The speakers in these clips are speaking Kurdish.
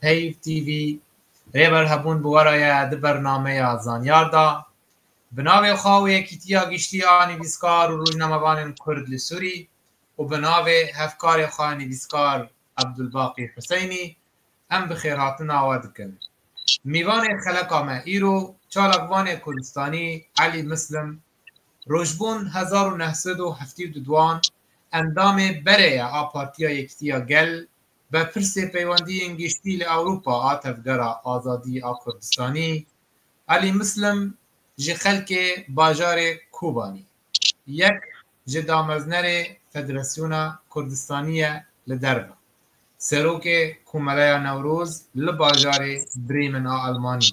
Peyv TV, Rêber Hebûn bi we re ye di bernameya Zanyar de. Bi navê xwe û Yekîtiya Giştî a Nivîskar û Rojnamevanên Kurd li Sûrî û bi navê hevkarê xwe nivîskar Ebdulbaqî Huseynî em bi xêrhatina we dikin. Mîvanê xeleka me îro çalakvanê Kurdistanî Elî Muslim Rojbûn hezar û neh sed û heftî û du duan endamê berê ye a Partiya Yekîtiya Gel be pirsê peywendiyên giştî li Ewropa a Tevgera Azadî a Kurdistanî Elî Muslim ji xelkê bajarê Kobanî yek ji dameznerê Federasyona Kurdistanî ye li derve Serokê Komeleya Newroz li bajarê Bremen a Elmanî.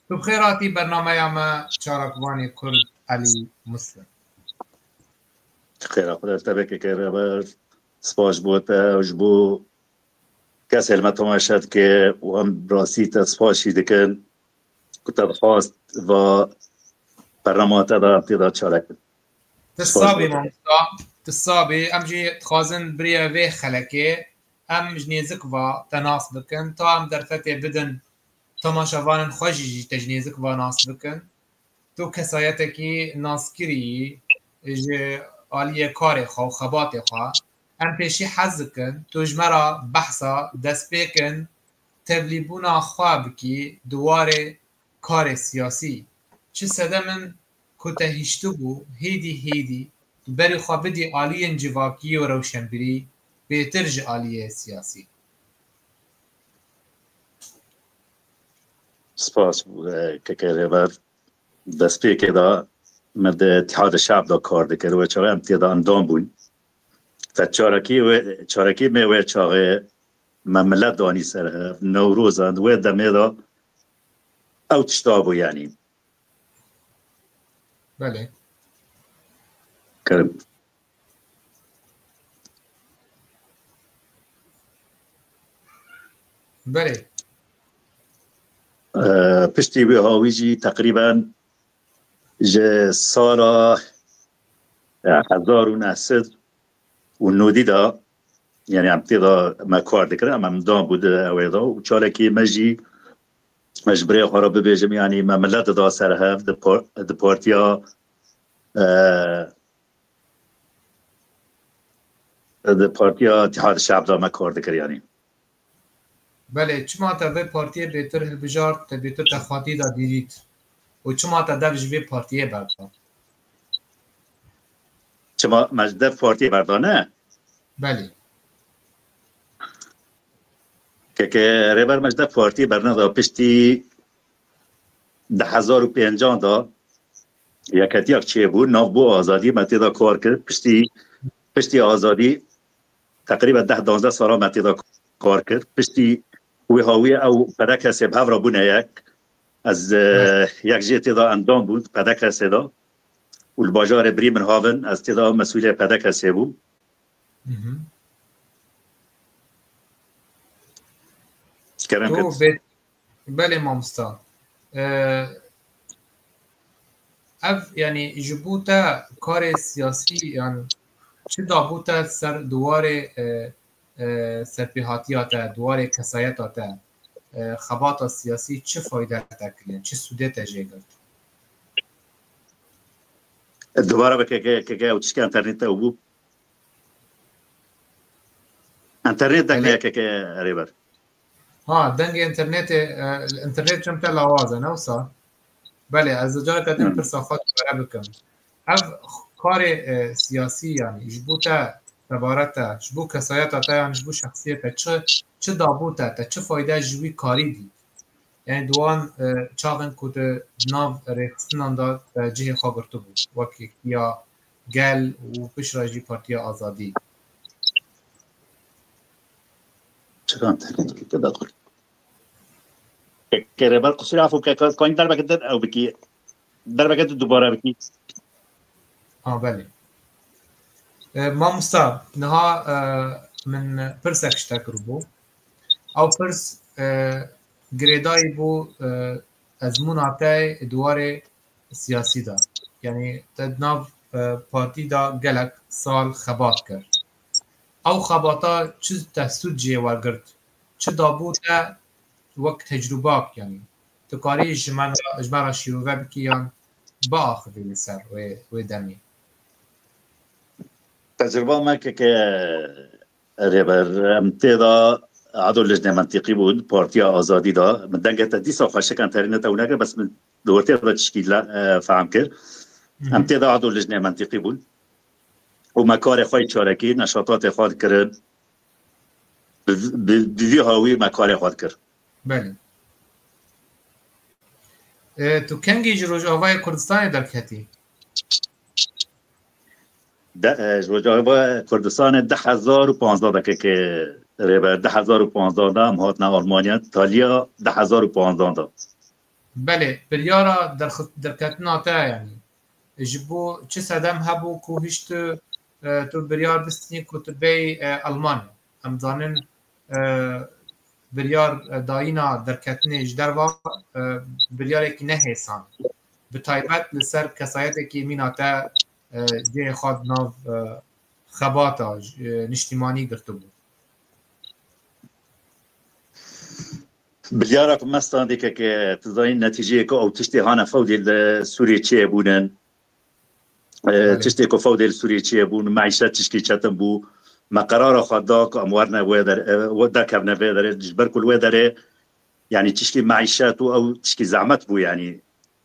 Tu bi xêr hatî bernameya me Çalakivanê Kurd Elî Muslim. Ji xêra xwe ez tevekê kere ber spas ji bo te ji bo kesê li me tomeşe dike û em bi rastî te spasî dikin ku te dixwast va bernama te de em tê de çalek bin. Ti sabî mamosta, ti sabî em jî dixwazin biriye vê xelekê em ji nêzik va te nas bikin ta em derfetê bidin Temaşevanên xwe jî ji tecnêzik ve nas bikin. Tu kesayetekî naskirî yî ji aliyê karê xwe û xebatê xwe. Em pêşî hez dikin tu ji me re behsa destpêkin tevlîbûna xwe bikî di warê karê siyasî. Çi sedem in ku te hiştibû hêdî hêdî tu berî xwe bidî aliyên civakî û rewşenbirî bêtir ji aliyê siyasî. Spas KK Rêber destpêkê de me di Îtîhada Şe'b de kar dikir wê çaxê em tê de endam bûn. Te çarekî wê çarekî me wê çaxê me milet danî ser hev Newroza di wê demê de ew tişta bû yanî. Belê. Kirin. Berê. Piştî wê hawî jî teqrîben ji sala hezar û neh sed û nodî da yani em tê da me kar dikirin em em da bû di ewê da û çalekî me jî me ji birê xwe re bibêjim yanî me milet dida ser hev di partiya Di Partiya Îtîhad-i Şe'b de me kar dikir yanî? Belê, çima te vê partiyê bêtir hilbijart, te bêtir texwatî da dîrît û çima te dev ji vê partiyê berda? Çima me ji dev partiyê berda ne? Belê. Keke Rêber me ji dev partiyê berneda piştî di hezar û pêncan de Yekhetiyek çêbû nav bo azadiyê me têda kar kir piştî piştî azadî teqrîben deh danzdeh salan me têda kar kir piştî wê hawiyê ew pede kesê bi hev re bûne yek ez yek jê têda endam bûn pede kesê da û li bajarê birî min havin ez têda ew mesûlê pede kesê bûm Belê mamosta. Ev yanî ji bo te karê siyasî yan çi dabû te ser diwarê serpêhatiya te, diwarê kesayeta te, xebata siyasî çi fayde te kiriye, çi sûdê te jê girt? Dubara bi KKK û tiştê enternêt te bû. Enternêt dekne KKK erê ber. Ha dengê internetê internet çem te lawaz e ne wisa? Belê ez careke din pirsa xwe dubare bikim. Ev karê siyasî yanî ji bo te tebare te ji bo kesayeta te yanî ji bo şexsiyê te çi çi dabû te te çi fayde ji wî karî dît? Yani di wan çaxên ku tu di nav rêxistinan de te cihê xwe girtibû wekî ya gel û piştre jî Partiya Azadî. Çiran tekên dikê te daqil. Ke rêber qusîr afo ke koyîn derbeke te ew bikî. Derbeke te dubare bikî. Ha belê. Mamosta niha min pirsek ji te kiribû. Ew pirs girêdayî bû ezmûna te di warê siyasî de. Yanî te di nav partî de gelek sal xebat kir. Ew xebata çi te sûd jê we girt, çi dabû te wek tecrûbak yanî tu karî ji me ji me re şîrove bikî yan biaxivî li ser wê wê demê? Tecrûba me ke ke Rêber em tê de edo lijnê mentîqî bûn Partiya Azadî de min dengê te dîsa xwe şikan terî ne tew nekir bes min li wir tê de tişkî fehm kir. Em tê de edo lijnê mentîqî bûn. û me karê xwe yê çarekî, neşatatê xwe dikirin. Bi vî hawî me karê xwe dikir. Belê. Tu kengî ji Rojavayê Kurdistanê derketî? Ji Rojavayê Kurdistanê di hezar û panzdeh de keke rêber. Di hezar û panzdeh de em hatine Almanya, taliya di hezar û panzdeh de. Belê, biryara derketina te ya yanî? ji bo çi sedem hebû ku hîş tu tu biryar bistînî ku tu bêyî Elmanya. Em dizanin biryar dayîna derketinê ji derve biryarekî ne hêsan e. Bi taybet li ser kesayetekî mîna te cihê xwe di nav xebata niştîmanî girtibû. Biryara ku me standê keke tu zanîn netîceyê ku ew tiştê hane fewdê li Sûriyê çêye bûnin. Tiştê ku fewdê li Sûriyê çêye bûn meîşet tişkî çetin bû. Me qerara xwe da ku em werne wê derê derkevne vê derê ji ber ku li wê derê yanî tişkî meîşet û ew tişkî zehmet bû yanî.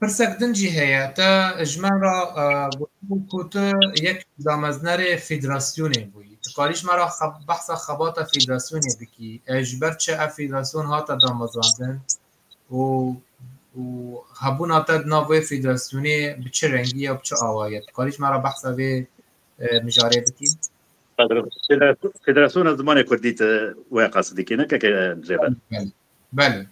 Pirsek din jî heye, te ji me re gotibû ku tu yek ji dameznerê federasyonê bûyî. Tu karî ji me re behsa xebata federasyonê bikî. Ji ber çi ev federasyon hate damezrandin û û hebûna te di nav wê federasyonê bi çi rengî ye û bi çi awayî ye? Tu karî ji me re behsa vê mijarê bikî? Federasyona Zimanê Kurdî tu wê qasî dikî ne keke rêber? Belê. Belê.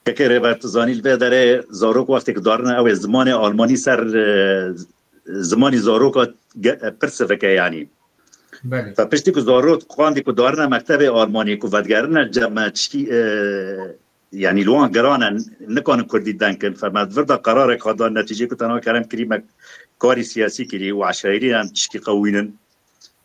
Yekê Rêber tu zanî li vê derê zarok wextê ku darine ew ê zimanê almanî ser zimanî zaroka pir sivike yanî. Fe piştî ku zarok qandî ku darine mektebê almanî ku vedigerine ceme çikî yanî li wan girane nikanin kurdî denkin fe me vir da qerarek hat dan netîcê ku tenha kerem kirî me karî siyasî kirî û eşairî yan tişkî qewînin.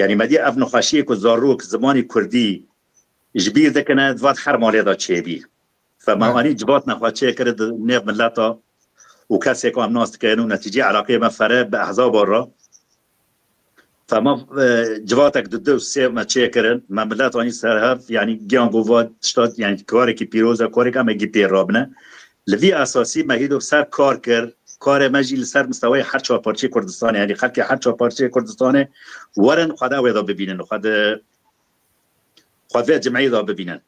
Yanî me dîya ev nexweşiyê ku zarok zimanê kurdî ji bîr dikine di van her malê de çêbî. Fe me anî civat nexweşiyê kir di nêv mileta û kesê ku em nas dikin û netîceyê eleqeyê me fere bi ehzaban re fe me civatek di du sêv me çê kirin me milet anî ser hev yanî giyan ku va tişta yanî karekî pîroz e karek em ê gî pê rabine Li vî esasî me hîdû ser kar kir, karê me jî li ser mistewayê her çar parçeyê Kurdistanê yanî xelkê her çar parçeyê Kurdistanê werin xwe de wêda bibînin û xwe di xwe vê cimeyê de bibînin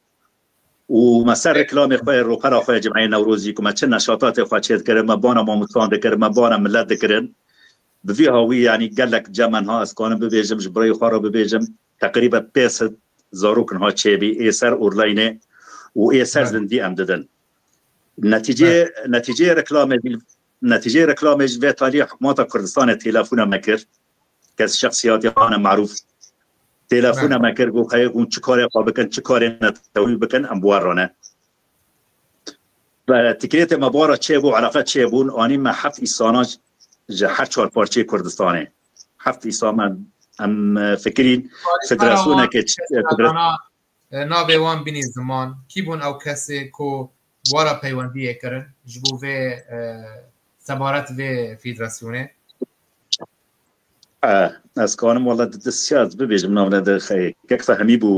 û me ser reklamê xwe yê ropera xwe yê cimeyê Newrozî ku me çi neşatatê xwe çê dikirin, me bana mamustan dikirin, me bana milet dikirin bi vî hawî yanî gelek cem niha ez kanim bibêjim ji birayê xwe re bibêjim teqrîben pênc sed zarok niha çêbî ê ser orlaynê û ê ser zindî em didin. Netîceyê netîceyê reklamê jî netîceyê reklamê jî vê talî hikûmeta Kurdistanê têlefûna me kir kes şexsîyatê wana merûf têlefûna me kir got heye hûn çi karê xwe bikin çi karê netewî bikin em bi wan re ne Tikrêtê me bi wan re çêbû eleqe çêbûn anî me heft îsana ji her çar parçeyê Kurdistanê heft îsa me em fikirîn federasyoneke Navê wan bînî ziman. Kî bûn ew kesê ku bi we re peywendiyê kirin ji bo vê sebaret vê fîdrasyonê? Ez karim wala di destya ez bibêjim navne de kek fehimî bû.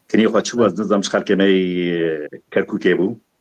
Tenê xwe çi wez nizam ji xelkê me yê Kerkûkê bû.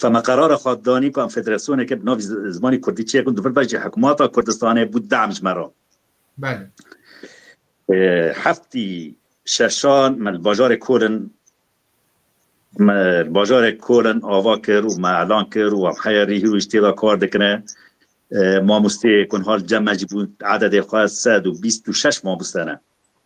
Ka me qerara xwe danî ku em federasyoneke bi navî zimanî kurdî çêkin dûvir be jî hikûmata Kurdistanê bû dem ji me re. Belê. Heftî şeşan me li bajarê Kolin me li bajarê Kolin ava kir û me elan kir û em heya rî hîrû jî tê de kar dikine. Mamosteyê ku niha li cem me jî bûn ededê xwe sed û bîst û şeş mamoste ne.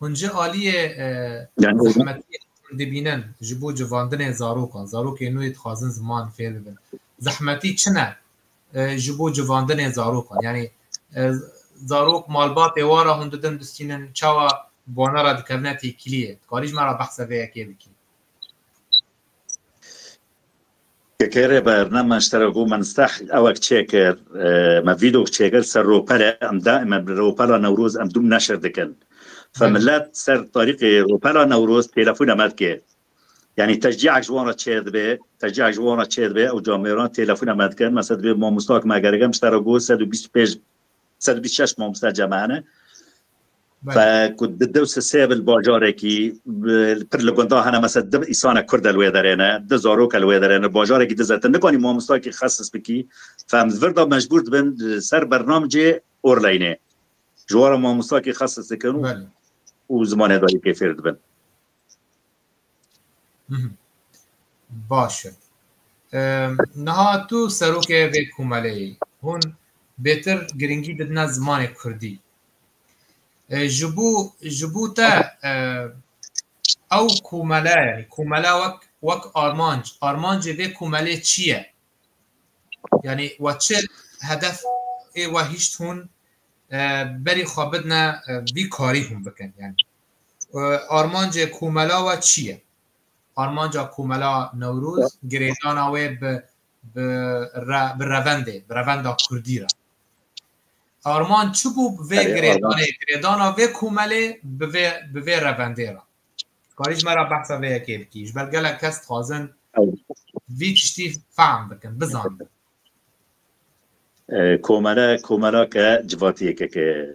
Hûn jî aliyê zehmetiyê têkil dibînin ji bo civandinê zarokan, zarokên nû yê dixwazin ziman fêr bibin. Zehmetî çi ne ji bo civandinê zarokan? Yanî zarok malbatê wan re hûn didin bistînin, çawa bi wan re dikevne têkiliyê? Dikarî ji me re behsa vê yekê bikî? Pkk rê berne me ji tera ku me nisteh ewek çêkir, me vîdok çêkir ser ropere em daîme bi ropera Newroz em dûm neşir dikin. Fe milet ser tarîxê ropera Newroz têlefûna me dike. Yanî teşcîek ji wan re çêdibe, teşcîek ji wan re çêdibe ewca mêran têlefûna me dikin. Mesela divê mamosta ku me gerek in ji tera ku sed û bîst û pênc sed û bîst û şeş mamosta cem hene. ku di dew sisê bil bajarekî pir li gunda hene mese di îsane kurd el wê derêne di zarok el wê derêne bajarekî di zete nikanî mamostakî xesis bikî fem virda mecbûr dibin ser bernamcê orleynê ji wara mamostakî xesis dikin û zimanê dayîkê fêr dibin Baş e. Niha tu serokê vê komeleyê hûn bêtir giringî didine zimanê Kurdî. Ji bo ji bo te ew komele yanî komele wek wek armanc armancê vê komelê çi ye? Yanî we çi hedef ê we hîşt hûn berî xwe bidine vî karî hûn bikin yanî. Armancê komela we çi ye? Armanca komela Newroz girêdana wê bi bi revendê, bi revenda kurdî re. Armanc çi bû bi vê girêdanê, girêdana vê komelê bi vê bi vê revendê re? Dikarî ji me re behsa vê yekê bikî? Ji ber gelek kes dixwazin vî tiştî fehm bikin, bizanin. Komele, komelake civatî yekeke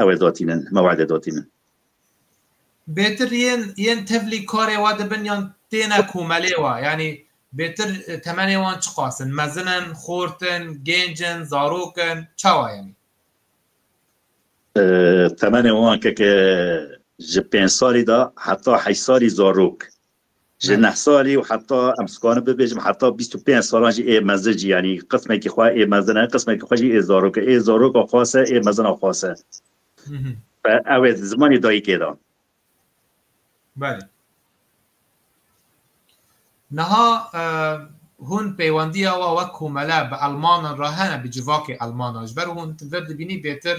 Ew ê dotînin, me wade dotînin. Bêtir yên yên tevlî karê we dibin yan têne komelê we? Yanî bêtir temenê wan çiqas in? Mezin in, xort in, gênc in, zarok in, çawa yanî? Temenê wan keke ji pênc salî de heta heşt salî zarok Ji neh salî û heta em sikarin bibêjim heta bîst û pênc salan jî ê mezin jî yanî qismekî xwe ê mezin e qismekî xwe jî ê zarok e ê zaroka xwase ê mezina xwase ew ê zimanê dayîkê de Belê Niha hûn pêwendiya we wek komele bi elmanan re hene bi civakê elmanan ji ber hûn vir dibînî bêtir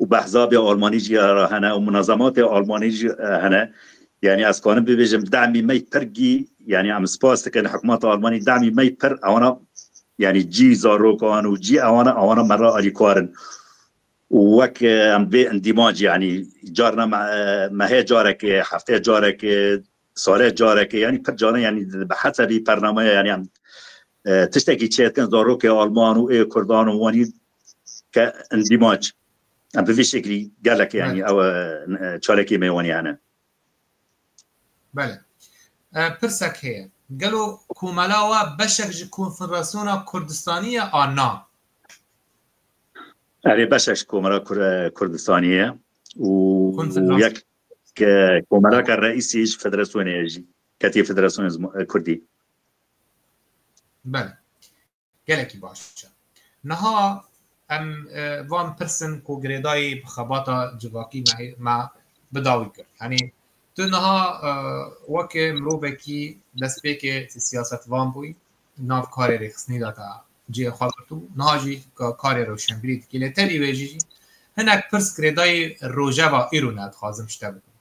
û behzabê Almanî jî ara hene û munazematê Almanî jî hene. Yanî ez karim bibêjim demî me yî pir gî yanî em spas dikin hikûmeta Almanî demî me yî pir ewana yanî cî zarokan û cî ewana ewana me re alîkar in. û wek em vê endîmanc yanî carna me mehê carekê, heftê carekê, salê carekê yanî pir caran yanî bi hesebî pernameya yanî em tiştekî çêdikin zarokê Alman û ê Kurdan û wanî ke endîmac em bi vî şeklî gelek yanî ew çalekê mêwanî hene. Bele. Pirsek heye. Gelo komela wa beşek ji Konfederasyona Kurdistanî ye a na? Erê beşek ji Komela Kurdistanî ye û yek komelaka reîsî ji federasyonê ye jî ketî federasyonê kurdî. Bele. Gelekî baş e. Niha em van pirsin ku girêdayî bi xebata civakî me bida wî kir. Yanî tu niha weke mirovekî destpêkê ti siyasetvan bûyî, nav karê rêxistinî de te cihê xwe girtibû, niha jî karê rewşenbîrî dikî. Lê tevî wê jî hinek pirs girêdayî rojeva îro ne dixwazim ji te bikim.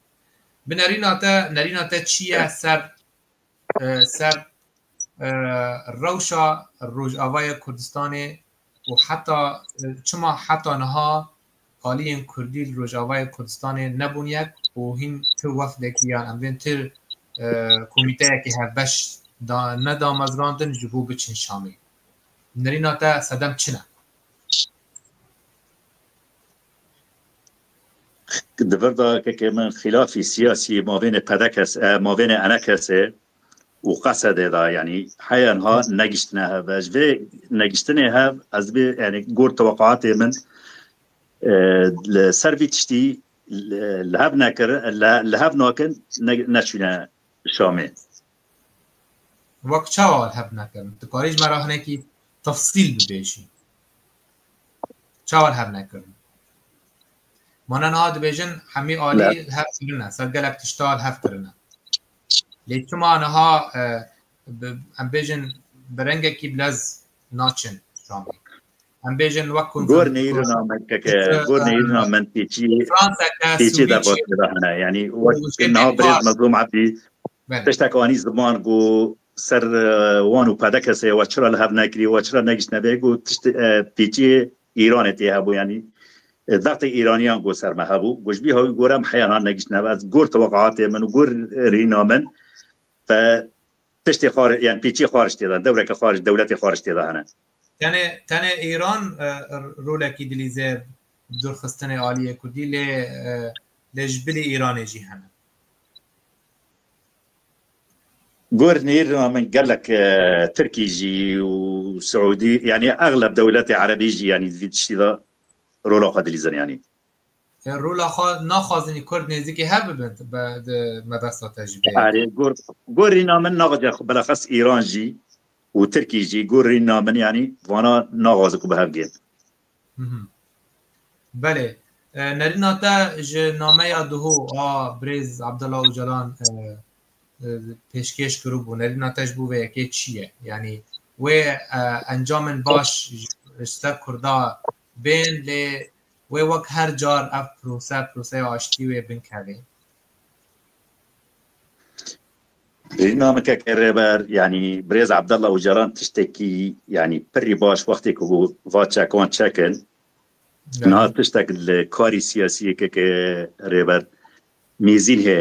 Bi nerîna te, nerîna te çi ye ser ser rewşa Rojavayê Kurdistanê û heta çima heta niha aliyên Kurdî li Rojavayê Kurdistanê nebûn yek û hîn ti wefdekî yan em bên ti komîteyekî hevbeş ne damezrandin ji bo biçin Şamê. Nirîna te sedem çi ne? Di vir de kekê min xîlafî siyasî mavêne PDKS e, mavêne NKS e û QSD'ê de yanî heya niha negiştine hev e. Ji vê negiştinê hev ez dibê yanî gor teweqatê min li ser vî tiştî li hev nekirin li hev nakin neçûne Şamê. Wek çawa wan heb nekirin? Tu karî ji me re hinekî tefsîl bibêjî. Çawa wan heb nekirin? Mana niha dibêjin hemî alî li hev kirine, ser gelek tişta li hev kirine. Lê çima niha em bêjin bi rengekî bilez naçin camê? Em bêjin wek ku gor neyirina menkeke gor neyirina men têçî têçî derbasî de hene yanî wek niha birêz mezlûm ebdî tiştek anî ziman ku ser wan û pedekesê we çira li hev nekirî we çira negiştine vê ku tişt têçî îranê tê hebû yanî Zaxtê îraniyan ku ser me hebû ku ji bî hewî gorem heya nan negiştine ez gor teweqatê min û gor rîna min Tiştê xwar yan pîçî xwariş tê de, dewreke xwariş, dewletê xwariş tê de hene. Tenê tenê Îran rolekî dilîze durxistinê aliyê Kurdî lê lê ji bilî Îranê jî hene. Gor nêrina min gelek Tirkî jî û Siûdî yanî egleb dewletê Erebî jî yanî di vî tiştî de rola xwe dilîzin yanî. Rola xwe naxwazinî Kurd nêzîkî hev bibin di mebesta te jî bê. Erê gor gor rîna min naxwaze xwe bilaxas Îran jî û Tirkî jî gor rîna min yanî vana naxwaze ku bi hev gên. Belê nerîna te ji nameya duhû a birêz Abdullah Ocalan pêşkêş kiribû nerîna te ji bo vê yekê çi ye yanî wê encamên baş ji ser Kurda bên lê wê wek her car ev prose proseya aştî wê binkevê. Namikeke rêber yanî birêz Abdallah Ocalan tiştekî yanî pirî baş wextê ku va çekan çekin niha tiştek li karî siyasî yekeke rêber mîzîn hê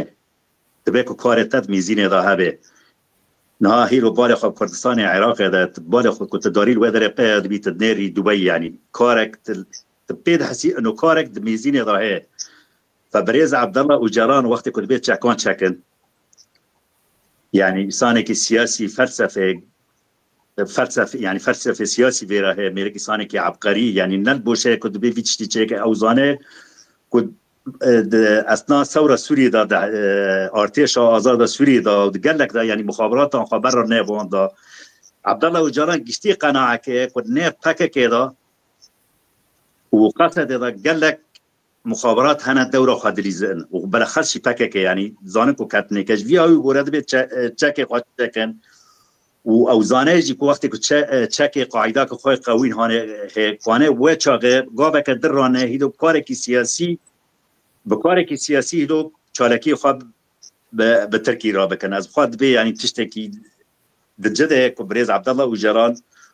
dibe ku karê te di mîzînê de hebe Niha hîro barê xwe Kurdistanê Iraqê de tu barê xwe ku tu darî li wê derê qeya dibî tu dinêrî dubeyî yanî karek tu tu pê dihesî ino karek di mêzînê de heye ve birêz Abdallah Ocalan wextê ku dibê çekan çekin yanî îsanekî siyasî felsefê Felsefê yanî felsefê siyasî vê re heye mêrik îsanekî ebqerî yanî ne li bo şeye ku divê vî tiştî çêke ew zane ku di esna sewra Sûriyê de di artêşa azada Sûriyê de û di gelek de yanî muxaberatan xwe berra nevanda Abdallah Ocalan giştî qenaeke ye ku nê PKK'ê de û qesedê de gelek Muxaberat hene dewra xwe dilîzin û bilexes jî pkk yanî dizanin ku ketinêke ji vî awî gore dibê çekê xwe çekin û ew zane jî ku wextê ku çekê qaîda ki xwe qewîn hane hê xwane we çaxê gaveke dir rane hîdo bi karekî siyasî bi karekî siyasî hîdo çalakiyê xwe bi Tirkî re bikin. Ez bixwa dibê yanî tiştekî di ci de ku birêz Abdallah Ocalan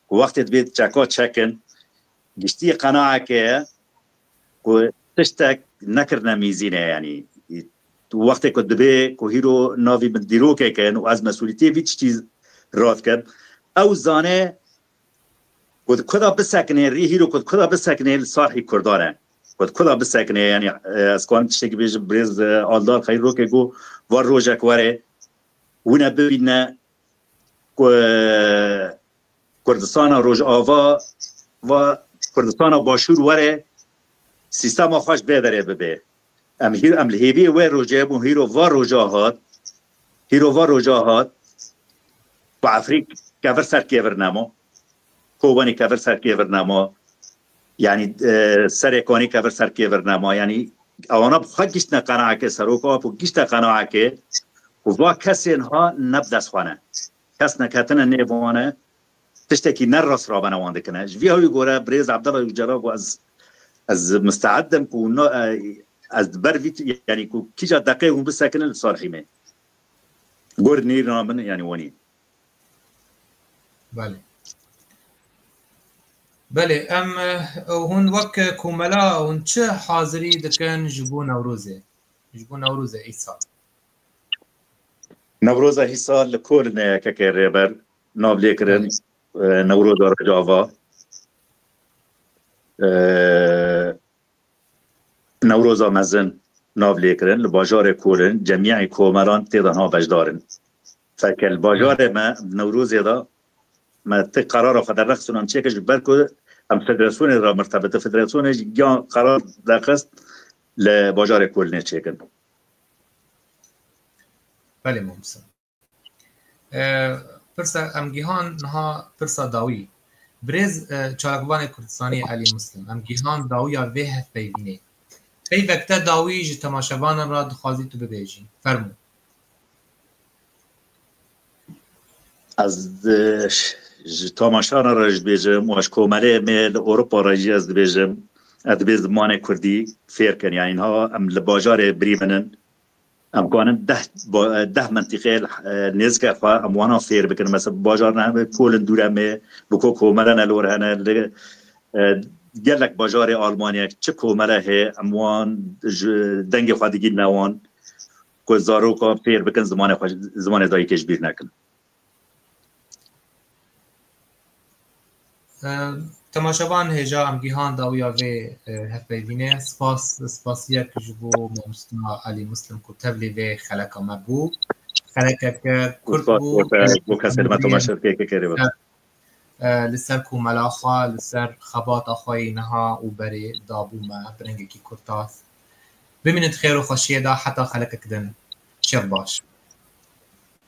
ku wextê dibê çeka çekin giştiyê qenaeke ye Ku tiştek nekirine mîzînê yanî wextê ku dibê ku hîro navî min dîrokek in û ez mesûlîtiyê vî tiştî rad kim, ew zane ku di ku de bisekinê rî hîro ku di ku de bisekinê li Sarhî Kurdan e. Ku di ku de bisekinê yanî ez karim tiştekî bêjim birêz Aldar xeyr rokê ku var rojek were wine bibîne ku Kurdistana Rojava va Kurdistana Başûr were sîstema xwe ji bêverê bibe. Em hîr em li hêviyê wê rojê bûn hîro va roja hat hîro va roja hat ku Efrîk kevir ser kêvir nema kovanî kevir ser kêvir nema yanî serê konî kevir ser kêvir nema yanî ewana bi xwe giştine qenaeke seroka ku gişte qenaeke ku va kesên ha ne bi dest xwe ne Kes neketine nêv wan e, tiştekî ne rast rabene wan dikine. Ji vî hewî gore birêz Abdallah Ujcela got ez ez misteed im ku no ez di ber vî yanî ku kîja deqê hûn bisekinin li Salihî me gur nêrina min yanî wanî. Belê. Belê em hûn wek komela hûn çi hazirî dikin ji bo Newrozê ji bo Newrozê îsal? Newroza hîsal li kor ne yekeke rêber nav lê kirin Newroza Rojava. Newroza mezin nav lê kirin li bajarê korin cemiyayê komeran tê danha beşdarin. Feke li bajarê me Newrozê da me ti karara xwe derrexistin em çêkir ji ber ku em federasyonê ra mirtebiti federasyonê ji giyan karar derxist li bajarê kolinê çêkin. Belê Mamose. Pirsa em gihan niha pirsa dawî. Birêz çalakvanê Kurdistanê Elî Muslim em gihan dawiya vê hevpeyvînê. Pey vekte dawî ji temaşevanan re dixwazî tu bibêjî. Fermû. Ez ji tamaşana re ji dibêjim û ji komelê me li Ewropa re jî ez dibêjim ez divê zimanê Kurdî fêr kin yanî niha em li bajarê birî min in em kanin deh deh mentîqê nêzika xwe em wana fêr bikin mesa bi bajar ne hebe kolin dûre me bi ko komele ne lor hene li gelek bajarê Almanyek çi komele hê em wan ji dengê xwe digîn ne wan ku zarokan fêr bikin zimanê xwe zimanê dayikê ji bîr nekin. Temaşevan hêja em gihan dawiya vê hevpeyvînê spas spasiyek ji bo Mamostna Elî Muslim ku tevlî vê xeleka me bû. Xelekeke kurd bû. Bû kesê me temaşevkê kekê rê li ser komela xwe, li ser xebata xwe yê niha û berê dabû me bi rengekî kurtas. Bimînin di xêr û xweşiyê de heta xelekek din. Şev baş.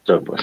Şev baş.